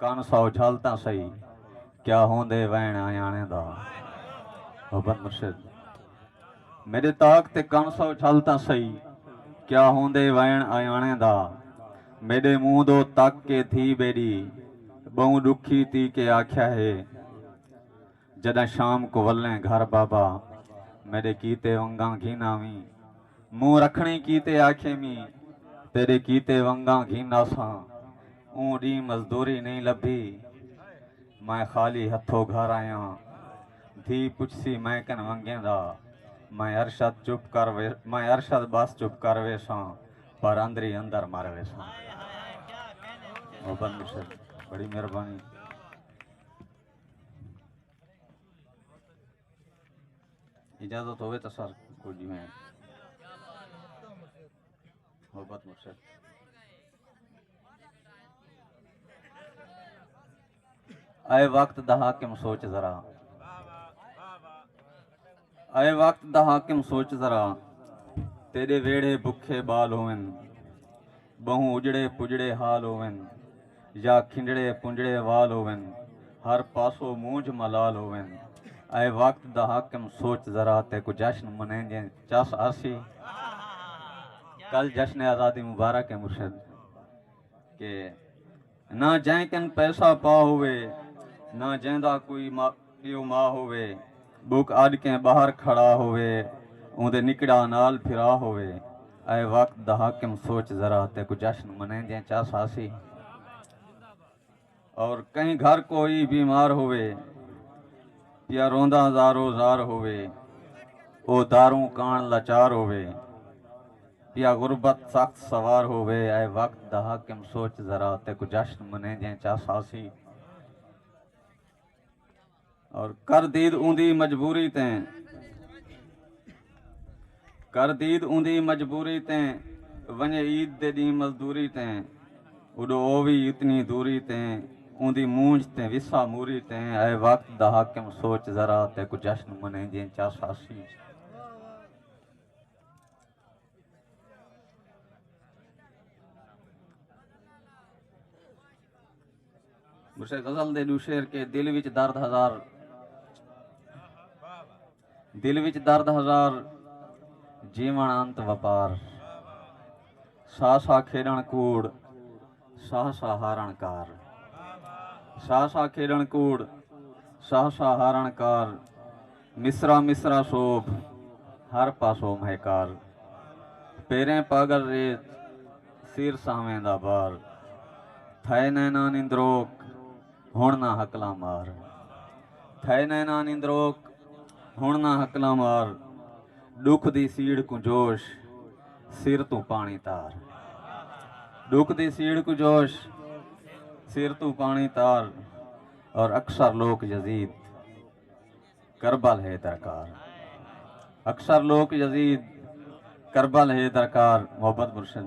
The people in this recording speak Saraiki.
کن سو جھل تاں سہی کیا ہوندے وین آیاݨے دا بند مرشد میݙے تاک تے کن سو جھل تاں سہی کیا ہوندے وین آیاݨے دا میݙے مونہہ دو تک کے دھی ٻیݙی ٻہوں ݙکھی تی کے آکھیا ہے جݙاں شام کوں ولیں گھر بابا میݙے کیتے ونگاں گھن آویں مونہہ رکھݨیں کیتے آکھے میں تیݙے کیتے ونگاں گھن آساں اوں ݙینہہ مزدوری نئیں لبھی میں خالی ہتھو گھر آیاں دھی پچھسی میں کن ونگیں دا میں ارشد چپ کر میں ارشد بس چپ کر ویساں پر اندری اندر مر ویساں محبت مرشد بڑی مہربانی اجازت ہوئے تو سر کو جی میں محبت مرشد اے وقت دا حاکم سوچ ذرا اے وقت دا حاکم سوچ ذرا تیڈے ویڑھے بکھے بال ہوون بہوں اجڑے پجڑے حال ہوون یا کھنڈڑے پنجڑے وال ہوون ہر پاسو مونجھ ملال ہوون اے وقت دا حاکم سوچ ذرا تے کو جشن منین جیں چس آسی کل جشن آزادی مبارک ہے مرشد کہ نہ جئیں کن پیسہ پا ہووے نہ جئیں دا کوئی پیو ما ہووے بک اڈ کیں باہر کھڑا ہووے اوندے نکڑا نال پھرا ہووے اے وقت دا حاکم سوچ ذرا تے کو جشن منیندیں چا ساسی اور کہیں گھر کوئی بیمار ہووے پیا روندا زارو زار ہووے او داروں کان لاچار ہووے یا غربت سخت سوار ہووے اے وقت دا حاکم سوچ ذرا تے کو جشن منے جیں چا ساسی اور کر دید اوندی مجبوری تیں کر دید اوندی مجبوری تیں ونجے عید دے ڈی مزدوری تیں اڈو اووی اتنی دوری تیں اوندی مونج تیں وسا موری تیں اے وقت دا حاکم سوچ ذرا تے کو جشن منے جیں چا ساسی اسے غزل دے دو شعر کے دل وچ درد ہزار دل وچ درد ہزار جیون انت وپار سا سا کھیڈن کوڑ ساہ ساہ ہارݨ کار ساہ ساہ کھیݙݨ کوڑ ساہ ساہ ہارݨ کار مصرعہ مصرعہ سوبھ ہر پاسو مہکار پیریں پاڳل ریت سیر سانویں دا بار تھئے نیناں نندروک ہݨ نہ ہکلاں مار تھئے نیناں نندروک ہݨ نہ ہکلاں مار ݙکھ دی سیڑھ کوں جوش سر توں پاݨی تار۔ ݙکھ دی سیڑھ کوں جوش۔ سر توں پاݨی تار۔ اور اکثر لوک یزید کربل ہے درکار۔ اکثر لوک یزید کربل ہے درکار محبت مرشد